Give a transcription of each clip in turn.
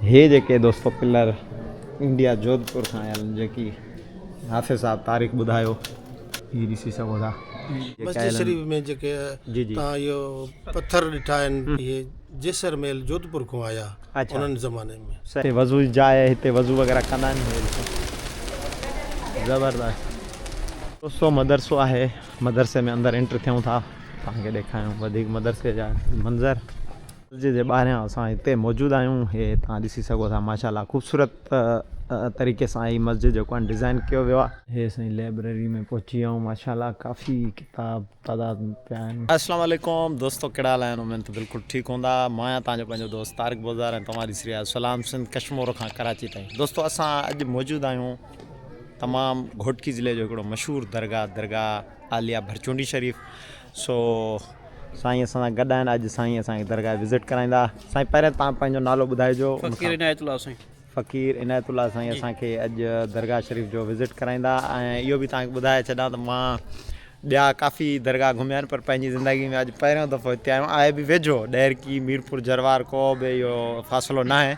هي جيڪي دوستو pillar India Jodhpur کان آيل آهن جيڪي حافظ صاحب تاريخ ٻڌايو هي ڏسي سگهو ٿا. مسجد شريف ۾ جيڪي توهان اهي پٿر ڏٺا آهن اهي جيسر ميل جوڌپور کان آيا انهن زماني ۾. هتي وضو جي جاء آهي هتي وضو وغيره ڪندا آهن هي ڏسو زبردست دوستو مدرسو آهي مدرسي ۾ اندر انٽر ٿيون ٿا توهان کي ڏيکاريون وڌيڪ مدرسي جا منظر درجي جي ٻاهريان اسان هتي موجود آهيون هي توهان ڏسي سگهو ٿا ماشاءالله خوبصورت طريقي سان هي مسجد جيڪو آهن ڊزائين ڪيو ويو آهي. هي سائين لئبرري ۾ پهچي ويا آهيون ماشاءالله ڪافي ڪتاب تعداد ۾ پيا آهن. السلام عليڪم دوستو ڪهڙا حال آهن امين ته بلڪل ٺيڪ هوندا مان آهيان توهان جو پنهنجو دوست طارق بوزدار ۽ توهان ڏسي رهيا آهيو سلام سنڌ ڪشمور کان ڪراچي تائين دوستو اسان اڄ موجود آهيون تمام گهوٽڪي ضلعي جو هڪڙو مشهور درگاهه درگاهه عاليه ڀرچونڊي شريف سو سائين اسان سان گڏ آهن اڄ سائين اسان کي درگاهه وزٽ ڪرائيندا سائين پهريان تان پنهنجو نالو ٻڌائجو فقير عنايت الله سائين فقير عنايت الله سائين اسان کي اڄ درگاهه شريف جو وزٽ ڪرائيندا ۽ اهو به تان ٻڌائي ڇڏان ته مان ٻيا ڪافي درگاهه گهميا آهن پر پنهنجي زندگي ۾ اڄ پهريون دفعو هتي آيو آهيان آهي به ويجهو ڏهرڪي ميرپور جروار ڪو به اهو فاصلو ناهي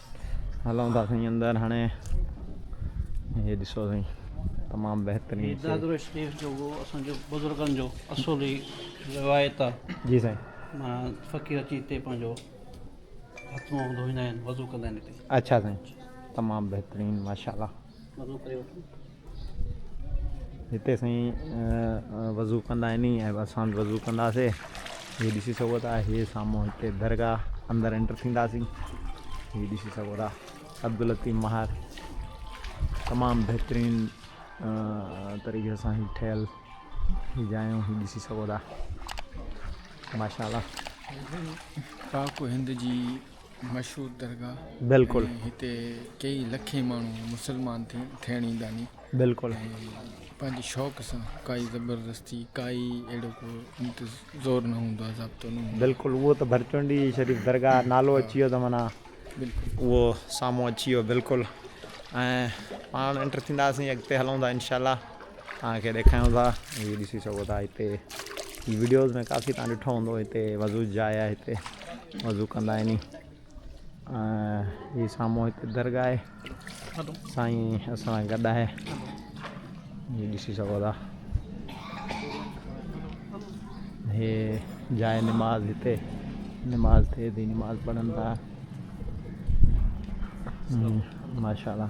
هلون ٿا سائين اندر هاڻي هي ڏسو سائين تمام بهترين هي دادرو شريف جو هو اسان جو بزرگن جو اصولي روايت آ جي سائين مان فقير اچي هتي پنهنجو هٿ منهن ڌوئيندا آهن وضو ڪندا آهن هتي اچھا سائين تمام بهترين ماشاءالله هتي سائين وضو ڪندا آهن ني ۽ اسان به وضو ڪنداسين هي ڏسي سگهو ٿا هي سامهون هتي درگاهه اندر انٽر ٿينداسين هي ڏسي سگهو ٿا عبداللطيف مهار تمام بهترين طريقي سان هي ٺهيل هي جايون هي ڏسي سگهو ٿا ماشاء الله پاڪ هند جي مشهور درگاهه بلڪل ۽ هتي ڪيئي لکين ماڻهو مسلمان ٿيڻ ايندا ني بلڪل پنهنجي شوق سان ڪائي زبردستي ڪائي اهڙو ڪو زور نه هوندو آهي ضابطو نه بلڪل اهو ته ڀرچونڊي شريف درگاهه نالو اچي ويو ته معنيٰ بلڪل اهو سامهون اچي ويو بلڪل ۽ پاڻ انٽر ٿينداسين اڳتي هلون ٿا انشاء الله توهان کي ڏيکاريون ٿا هي ڏسي سگهو ٿا هتي هي وڊيوز ۾ ڪافي توهان ڏٺو هوندو هتي وضو جي جاء آهي هتي وضو ڪندا آهن هي سامهون هتي درگاهه آهي سائين اسان گڏ آهي هي ڏسي سگهو ٿا هي جاء نماز هتي نماز ٿئي ٿي نماز پڙهن ٿا ماشاء الله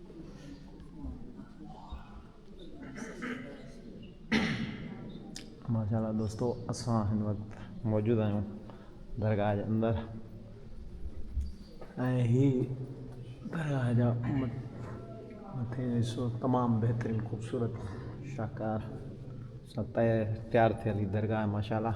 ماشاء الله دوستو اسان هن وقت موجود آهيون درگاهه جي اندر ۽ هي درگاهه جا مٿي حصو تمام بهترين خوبصورت شاهڪار سان تيار ٿيل هي درگاهه ماشاء الله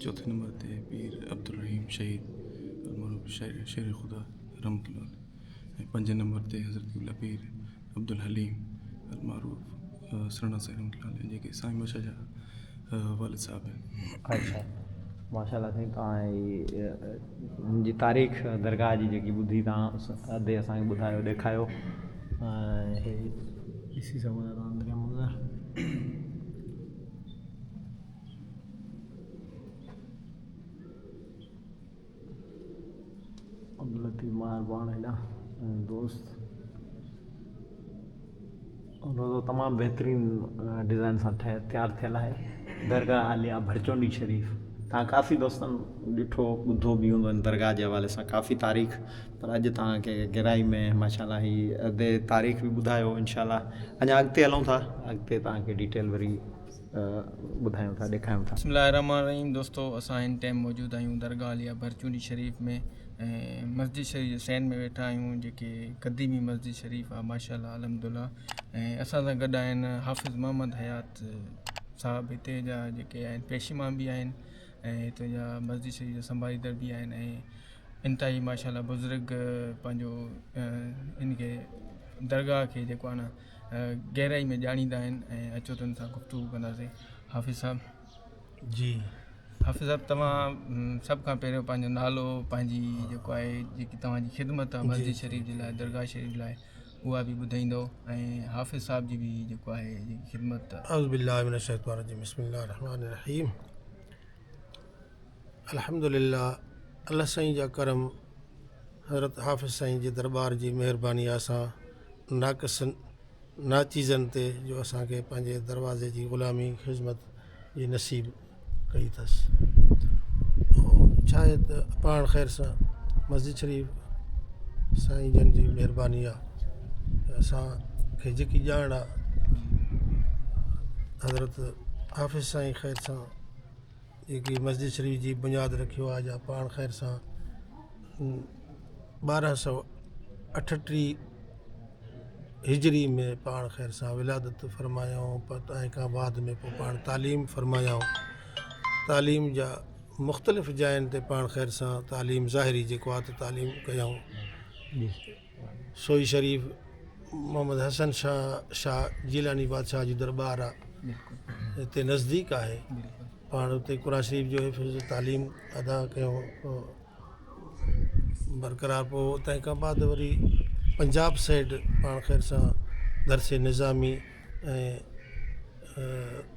چوٿين نمبر تي پير عبدالرحيم شهيد المعروف شير خدا رحمت الله ۽ پنجين نمبر تي حضرت قبله پير عبدالحليم المعروف سرڻا سائين رحمت الله عليه جيڪي سائين بادشاهه جا والد صاحب آهن ماشاء الله سائين تان هن جي تاريخ درگاهه جي جيڪي ٻڌي تان ادي اسان کي ٻڌايو ڏيکايو ڏسي سگهون ٿا تان دريا منظر عبداللطيف ماهر پاڻ هيڏا دوست روزو تمام بهترين ڊيزائن سان ٺهي تيار ٿيل آهي درگاهه عاليه ڀرچونڊي شريف تان ڪافي دوستن ڏٺو ٻڌو به هوندو ان درگاهه جي حوالي سان ڪافي تاريخ پر اڄ تان کي گهرائي ۾ ماشاءالله هي ادي تاريخ به ٻڌايو انشاءالله اڃا اڳتي هلون ٿا اڳتي تان کي ڊيٽيل وري ٻڌايون ٿا ڏيکاريون ٿا. بسم الله الرحمٰن الرحيم دوستو اسان هن ٽائيم موجود آهيون درگاهه عليا ڀرچونڊي شريف ۾ ۽ مسجد شريف جي سئن ۾ ويٺا آهيون جيڪي قديمي مسجد شريف آهي ماشاء الله الحمد الله ۽ اسان سان گڏ آهن حافظ محمد حيات صاحب هتي جا جيڪي آهن پيش امام به آهن ۽ هتي جا مسجد شريف جا سنڀاليندڙ به آهن ۽ انتهائي ماشاء الله بزرگ پنهنجو ان کي درگاهه کي جيڪو آهي نه گهرائي ۾ ڄاڻيندا آهن ۽ اچو تن سان گفتگو ڪنداسين حافظ صاحب جي حافظ صاحب توهان سڀ کان پهريون پنهنجو نالو پنهنجي جيڪو آهي جيڪي توهان جي خدمت آهي مسجد شريف جي لاء درگاهه شريف لاء اها به ٻڌائيندو ۽ حافظ صاحب جي به جيڪو آهي خدمت اعوذ بالله من الشيطان الرجيم بسم الله الرحمن الرحيم الحمدلله الله سائين جا ڪرم حضرت حافظ سائين جي دربار جي مهرباني آ سان ناقصن ناچيزن تي جو اسانکي پنهنجي دروازي جي غلامي خدمت جي نصيب ڪئي اٿس ڇا آهي ته پاڻ خير سان مسجد شريف سائين جن جي مهرباني آ اسانکي جيڪي ڄاڻ آ حضرت حافظ سائين خير سان جيڪي مسجد شريف جي بنياد رکيو آهي جا پاڻ خير سان ٻارهن سو اٺٽيهه هجري ۾ پاڻ خير سان ولادت فرمايائون ۽ پت ۽ کان بعد ۾ پوء پاڻ تعليم فرمايائون تعليم جا مختلف جاين تي پاڻ خير سان تعليم ظاهري جيڪو آهي ته تعليم ڪيائون سوئي شريف محمد حسن شاهه شاهه جيلاني بادشاهه جي درٻار آ هتي نزديڪ آهي پاڻ هتي قرآن شريف جو حفظ تعليم ادا ڪيو برقرار پوء تنهن کان بعد وري پنجاب سيڊ پاڻ خير سان درسي نظامي ۽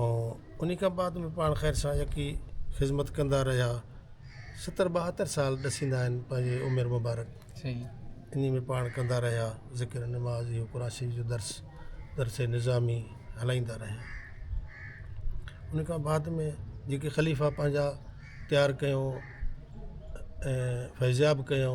۽ انهي کان بعد ۾ پاڻ خير سان يڪي خدمت ڪندا رهيا ستر ٻاهتر سال ڏسيندا آهن پنهنجي عمر مبارڪ انهي ۾ پاڻ ڪندا رهيا ذڪر نماز اهو قرآن شريف جو درس درس نظامي هلائيندا رهيا انهي کان بعد ۾ جيڪي خليفا پنهنجا تيار ڪيو ۽ فيضياب ڪيو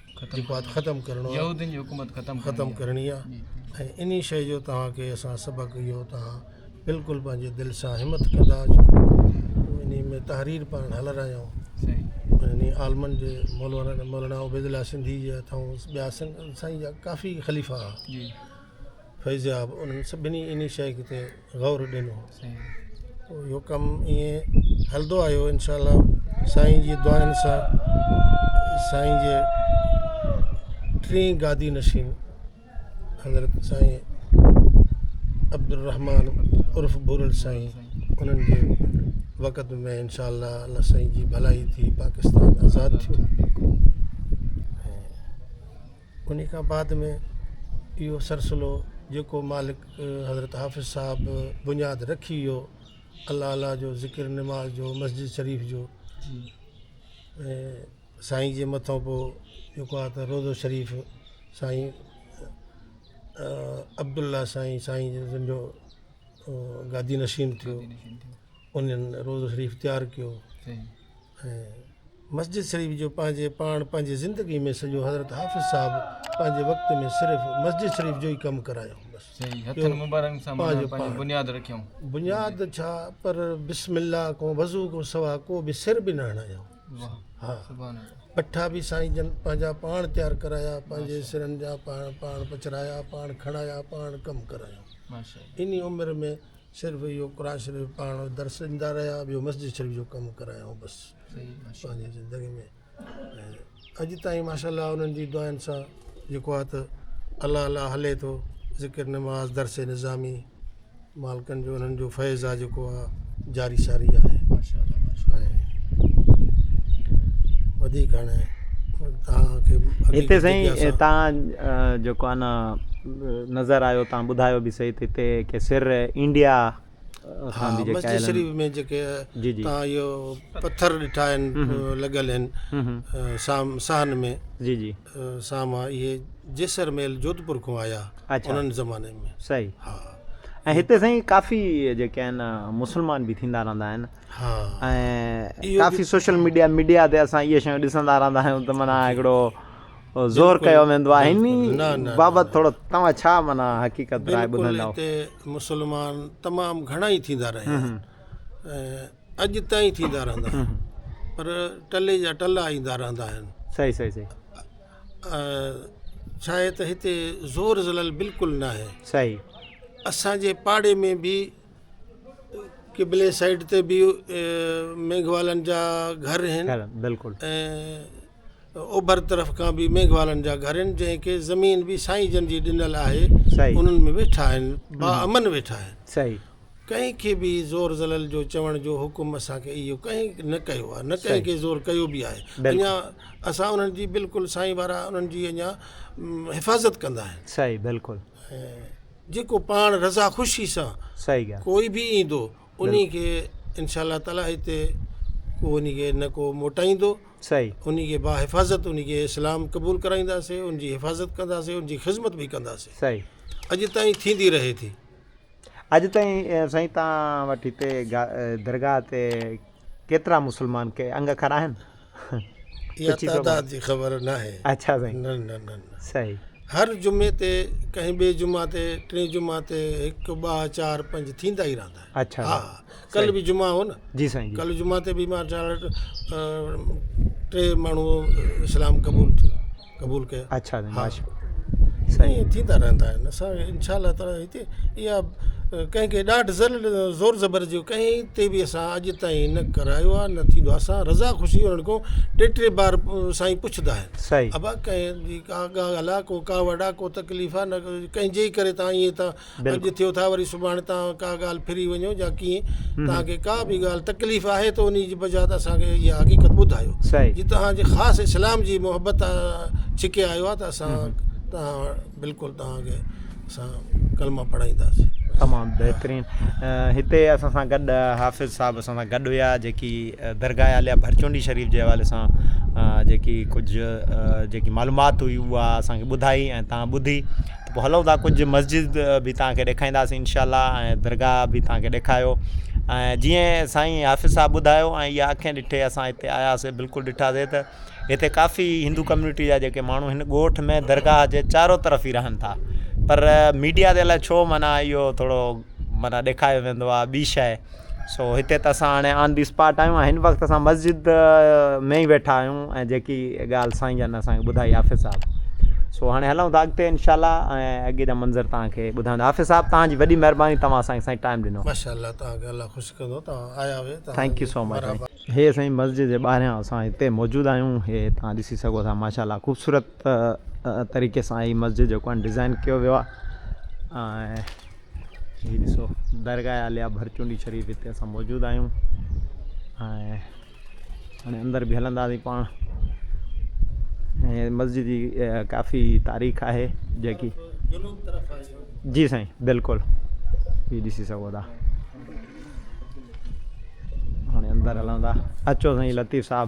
جيڪو آهي ختم ڪرڻو آهي يهودين جي حڪومت ختم ختم ڪرڻي آهي ۽ انهي شيء جو توهان کي اسان سبق اهو توهان بلڪل پنهنجي دل سان همٿ ڪندا اچو انهي ۾ تحرير پاڻ هلرايون انهي عالمن جي مولانا مولانا عبيدالله سنڌي جي هٿان ٻيا سن سائين جا ڪافي خليفا هئا فيضياب انهن سڀني انهي شيء تي غور ڏنو اهو ڪم ائين هلندو آيو انشاء الله سائين جي دعائن سان سائين جي ٽي گادي نشين حضرت سائين عبدالرحمان عرف بورل سائين انهن جي وقت ۾ انشاء الله الله سائين جي ڀلائي ٿي پاڪستان آزاد ٿيو انهي کان بعد ۾ اهو سلسلو جيڪو مالڪ حضرت حافظ صاحب بنياد رکي ويو الله الله جو ذڪر نماز جو مسجد شريف جو سائين جي مٿو پوء جيڪو آ ته روضو شريف سائين عبدالله سائين سائين جن جو گادي نشين ٿيو انهن روضو شريف تيار ڪيو ۽ مسجد شريف جو پنهنجي پاڻ پنهنجي زندگي ۾ سڄو حضرت حافظ صاحب پنهنجي وقت ۾ صرف مسجد شريف جو ئي ڪم ڪرايو بس صحيح هٿن ٻيو مبارڪن سان پنهنجو معنيٰ پنهنجي پاڻ. بنياد رکيائون بنياد ڇا پر بسم الله کان وضو کان سوا ڪو به سر به نه هڻايائون واهه ها سبحان الله پٺا به سائين جن پنهنجا پاڻ تيار ڪرايا پنهنجي سرن جا پاڻ پاڻ پچرايا پاڻ کڻايا پاڻ ڪم ڪرايائون ماشاء الله انهي عمر ۾ صرف اهو قرآن شريف پاڻ درس ڏيندا رهيا ٻيو مسجد شريف جو ڪم ڪرايائون بس پنهنجي زندگي ۾ اڄ تائين ماشاء الله انهن جي دعائن سان جيڪو آ ته الله الله هلي ٿو ذڪر نماز درس نظامي مالڪن جو انهن جو فيض آ جيڪو آ جاري ساري آ وڌيڪ هاڻي هتي سائين تان جيڪو آ نا نظر آيو تان ٻڌايو به سهي ته هتي ڪي سر انڊيا کان به جيڪي آيل آهن. جي جي. جي جي. اڇا. سهي. ۽ هتي سائين ڪافي جيڪي آهن مسلمان به ٿيندا رهندا آهن. ۽ ڪافي سوشل ميڊيا ميڊيا تي اسان اهي شيون ڏسندا رهندا آهيون ته معنيٰ هڪڙو. زور ڪيو ويندو آهي انهي بابت ٿورو توهان ڇا معنيٰ حقيقت راء ٻڌندا. بلڪل هتي مسلمان تمام گهڻا ئي ٿيندا رهيا آهن ۽ اڄ تائين ٿيندا رهندا آهن پر ٽلي جا ٽلا ايندا رهندا آهن. صحيح صحيح صحيح. ڇا آهي ته هتي زور زلل بلڪل نه آهي. صحيح. اسان جي پاڙي ۾ به قبلي سائيڊ تي به ميگهوالن جا گهر آهن. بلڪل. ۽ اوڀر طرف کان به ميگهوالن جا گهر آهن، جنهن کي زمين به سائين جن جي ڏنل آهي، صحيح. انهن ۾ ويٺا آهن، باامن ويٺا آهن. صحيح. ڪنهن کي به زور زلل جو چوڻ جو حڪم اسان کي اهو ڪنهن نه ڪيو آهي، نه ڪنهن کي زور ڪيو به آهي. بلڪل. اڃا اسان انهن جي بلڪل سائين وارا انهن جي اڃا حفاظت ڪندا آهن. صحيح بلڪل. ۽ جيڪو پاڻ رضا خوشي سان صحيح ڳالهه. ڪوئي به ايندو انهي کي انشاء الله تعالٰي هتي ڪو انهي کي نه ڪو موٽائيندو صحيح انهي کي با حفاظت انهي کي اسلام قبول ڪرائينداسين ان جي حفاظت ڪنداسين ان جي خذمت به ڪنداسين صحيح اڄ تائين ٿيندي رهي ٿي اڄ تائين اه، سائين توهان وٽ هتي گا- اه، درگاهه تي ڪيترا مسلمان ڪي انگ کر آهن اها تعداد جي خبر ناهي. اچا سائين. نه نه نه نه. صحيح. هر جمعي تي ڪنهن ٻئي جمعا تي ٽين جمعا تي هڪ ٻه چار پنج ٿيندا ئي رهندا آهن. اچا. ها ها ڪل به جمعا هو نه. جي سائين جي. ڪل جمعا تي به مارجاڻ ٽي ماڻهو اسلام قبول ٿيو. قبول ڪيا اڇا سائين ماشاء الله سائين ائين ٿيندا رهندا آهن اسان کي انشاء الله تعالٰي هتي اها ڪنهن کي ڏاڍ ذل زور زبر جي ڪنهن تي به اسان اڄ تائين نه ڪرايو آهي نه ٿيندو آهي اسان رضا خوشي هئڻ کان ٽي ٽي بار سائين پڇندا آهن سائين ابا ڪنهن جي ڪا ڳالهه آهي ڪو ڪاوڙ آهي ڪو تڪليف آهي نه ڪنهن جي ڪري تان ائين تان اڄ ٿيو ٿا وري سڀاڻي توهان ڪا ڳالهه ڦري وڃو جا ڪيئن توهان کي ڪا به ڳالهه تڪليف آهي ته انهي جي بجات اسان کي اها حقيقت ٻڌايو جي توهان جي خاص اسلام جي محبت ڇڪي آيو آهي ته اسان توهان بلڪل توهان کي اسان ڪلمه پڙهائينداسين تمام بهترين هتي اسان سان گڏ حافظ صاحب اسان سان گڏ هيا جيڪي درگاهه عاليه ڀرچونڊي شريف جي حوالي سان جيڪي ڪجهه جيڪي معلومات هئي اها اسان کي ٻڌائي ۽ تان ٻڌي پوء هلون ٿا ڪجهه مسجد به توهان کي ڏيکائينداسين انشاء الله ۽ درگاهه به توهان کي ڏيکايو ۽ جيئن سائين حافظ صاحب ٻڌايو ۽ اها اکين ڏٺي اسان هتي آياسي بلڪل ڏٺاسي ته هتي ڪافي هندو ڪميونٽي جا جيڪي ماڻهو هن ڳوٺ ۾ درگاهه جي چارو طرف ئي رهن ٿا پر ميڊيا تي الاء ڇو معنيٰ اهو ٿورو معنيٰ ڏيکايو ويندو آهي ٻي شايد سو هتي ته اسان هاڻي آن دي اسپاٽ آهيون ۽ هن وقت اسان مسجد ۾ ئي ويٺا آهيون ۽ جيڪي ڳالهه سائين جن اسان کي ٻڌائي حافظ صاحب سو هاڻي هلون ٿا اڳتي انشاء الله ۽ اڳي جا منظر تان کي ٻڌائيندا حافظ صاحب تان جي وڏي مهرباني توهان اسان کي سائين ٽائم ڏنو ماشاء الله تان کي الله خوش ڪندو تان آيا هي تان ٿينڪ يو سو مچ هي سائين مسجد جي ٻاهريان اسان هتي موجود آهيون هي تان ڏسي سگهو ٿا ماشاء الله خوبصورت طريقي سان هي مسجد جيڪو آهن ڊزائن ڪيو ويو آهي ۽ هي ڏسو درگاهه عاليه ڀرچونڊي شريف هتي اسان موجود آهيون ۽ هاڻي اندر به هلنداسين پاڻ ۽ مسجد جي ڪافي تاريخ آهي جيڪي جي سائين بلڪل هي ڏسي سگهو ٿا هاڻي اندر هلون ٿا اچو سائين لطيف صاحب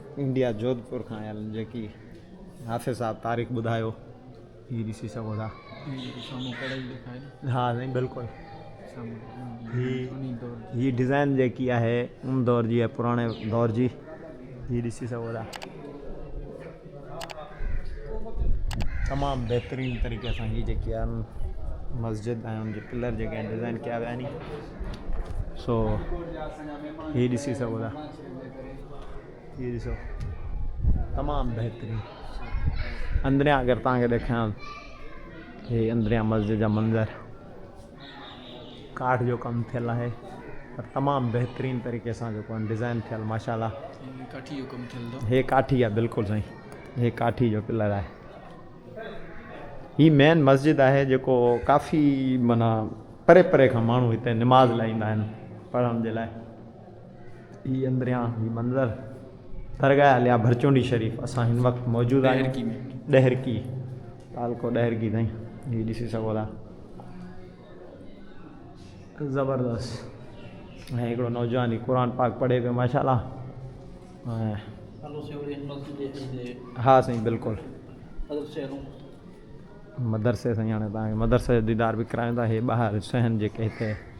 انڊيا جوڌپور کان آيل آھن جيڪي حافظ صاحب تاريخ ٻڌايو ھي ڏسي سگھو ٿا ھا سائين بلڪل ھي ھي ڊزائن جيڪي آھي ان دور جي آھي پراڻي دور جي ھي ڏسي سگھو ٿا تمام بهترين طريقي سان ھي جيڪي آھن مسجد ۽ ان جي پلر جيڪي ڊزائن ڪيا ويا آھن سو ھي ڏسي سگھو ٿا هي ڏسو تمام بهترين اندريان اگر تان کي ڏيکان هي اندريان مسجد جا منظر ڪاٺ جو ڪم ٿيل آهي پر تمام بهترين طريقي سان جو ڪون ڊيزائن ٿيل ماشاءالله ڪاٺي جو ڪم ٿيل دو هي ڪاٺي آ بالکل سائين هي ڪاٺي جو پلر آهي هي مين مسجد آهي جيڪو ڪافي منا پري پري کان ماڻهو هتي نماز لاء ايندا آهن پڙهڻ جي لاء هي اندريان هي منظر درگاهه عليا ڀرچونڊي شريف اسان هن وقت موجود آهيون ڏهرڪي تعلقو ڏهرڪي تائين هي ڏسي سگهو ٿا زبردست ۽ هڪڙو نوجوان هي قرآن پاڪ پڙهي پيو ماشاء الله ها سائين بلڪل مدرسي سائين هاڻي تهان کي مدرسي جو ديدار به ڪرايون ٿا هي ٻاهر سهن جيڪي هتي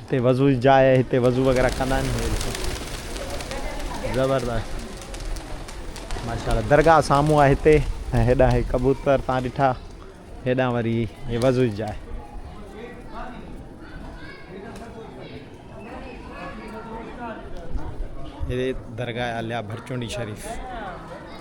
هتي وضو جي جاء آهي هتي وضو وغيره ڪندا آهن هي ڏسو زبردست ماشاءالله درگاهه سامهون آهي هتي ۽ هيڏانهن هي ڪبوتر تان ڏٺا هيڏانهن وري هي وضو جي جاء هي درگاهه عليا ڀرچونڊي شريف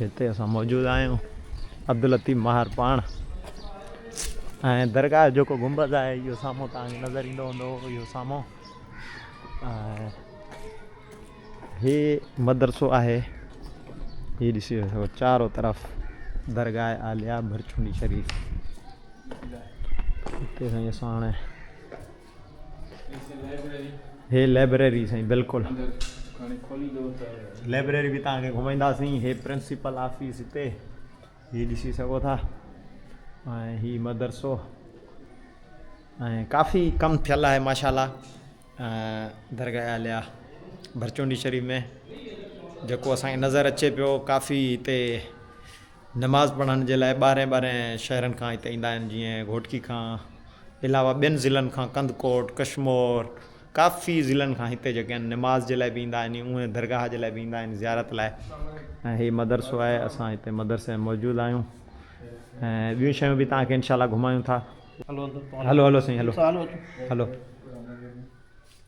هتي اسان موجود آهيون عبداللطيف ماهر پاڻ ۽ درگاهه جو جيڪو گنبذ آهي اهو سامهون تان نظر ايندو هوندو اهو سامهون هي مدرسو آهي هي ڏسي وٺو چارو طرف درگاهه عاليه ڀرچوني شريف هتي سائين اسان هاڻي هي لئبريري سائين بلڪل لئبريري به توهان کي گهمائيندا سين هي پرنسپل آفيس هتي هي ڏسي سگهو ٿا ۽ هي مدرسو ۽ ڪافي ڪم ٿيل آهي ماشاءالله درگاهه عاليه ڀرچونڊي شريف ۾ جيڪو اسان کي نظر اچي پيو ڪافي هتي نماز پڙهڻ جي لاء ٻاهرين ٻاهرين شهرن کان هت ايندا آهن جيئن گهوٽڪي کان علاوه ٻين ضلعن کان ڪنڌڪوٽ، ڪشمور ڪافي ضلعن کان هتي جيڪي آهن نماز جي لاء به ايندا آهن ۽ اهي درگاهه جي لاء به ايندا آهن زيارت لاء ۽ هي مدرسو آهي اسان هتي مدرسي ۾ موجود آهيون ۽ ٻيون شيون به توهان کي انشاء الله گهمايون ٿا هلو هلو سائين هلو هلو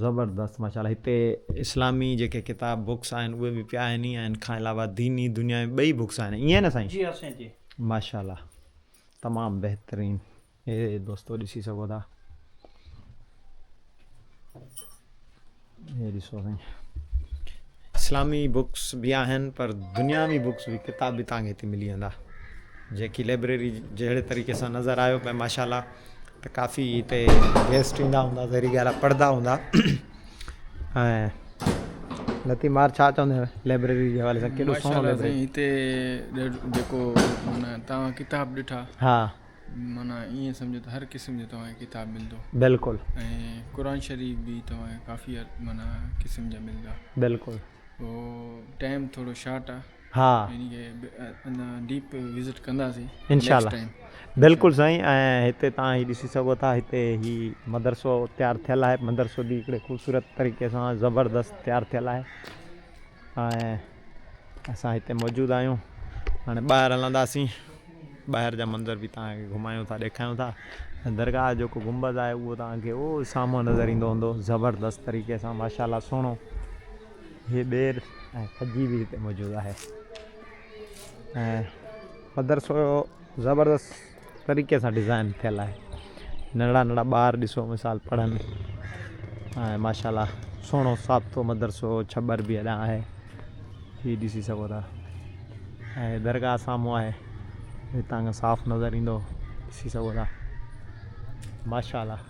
زبردست ماشاءالله هتي اسلامي جيڪي ڪتاب بوڪس آهن اهي به پيا آهن ۽ ان کان علاوه ديني دنيا ۾ ٻئي بوڪس آهن ائين نه سائين جي ها سائين جي ماشاءالله تمام بهترين هي دوستو ڏسي سگهو ٿا هي ڏسو سائين اسلامي بوڪس به آهن پر دنياوي بوڪس به ڪتاب به تانکي هتي ملي ويندا جيڪي لائبريري جهڙي طريقي سان نظر آيو پئي ماشاءالله ته ڪافي هتي گيسٽ ايندا هوندا ظاهري ڳالهه آهي پڙهندا هوندا ۽ لطيف مار ڇا چوندو آهي لائبريري جي حوالي سان ڪيڏو ماشاء سهڻو الله سائين لائبريري هتي ڏ- جيڪو مانا توهان ڪتاب ڏٺا ها مانا ائين سمجهو ته هر قسم جو توهان کي ڪتاب ملندو بلڪل ۽ قرآن شريف به توهان کي ڪافي مانا قسم جا ملندا بلڪل پوء ٽائم ٿورو شارٽ آهي ها انشاء الله بلڪل سائين ۽ هتي توهان هي ڏسي سگهو ٿا هتي هي مدرسو تيار ٿيل آهي مدرسو به هڪڙي خوبصورت طريقي سان زبردست تيار ٿيل آهي ۽ اسان هتي موجود آهيون هاڻي ٻاهر هلنداسين ٻاهر جا منظر به توهان کي گهمايون ٿا ڏيکايون ٿا درگاهه جو جيڪو گنبذ آهي اهو توهان کي اهو سامهون نظر ايندو هوندو زبردست طريقي سان ماشاء الله سهڻو هي ٻير ۽ کجي به هتي موجود آهي ۽ مدرسو زبردست طريقي سان ڊزائن ٿيل آهي ننڍڙا ننڍڙا ٻار ڏسو مثال پڙهن ۽ ماشاء الله سهڻو سابتو مدرسو ڇٻر به اڏان آهي هي ڏسي سگهو ٿا ۽ درگاهه سامهون آهي هتان کان صاف نظر ايندو ڏسي سگهو ٿا ماشاء الله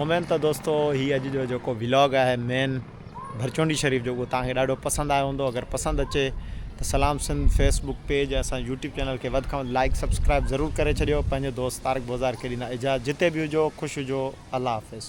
اميد ته دوستو هي اڄ جو جيڪو ولاگ آهي مين ڀرچونڊي شريف جو اهو توهان کي ڏاڍو پسند آيو هوندو اگر پسند اچي ته سلام سنڌ فيس بڪ پيج اسان يوٽيوب چينل کي وڌ کان وڌ لائيڪ سبسڪرائيب ضرور ڪري ڇڏيو پنهنجو دوست طارق بوزار کي ڏيندا اجازت جتي به هجو خوش هجو الله حافظ.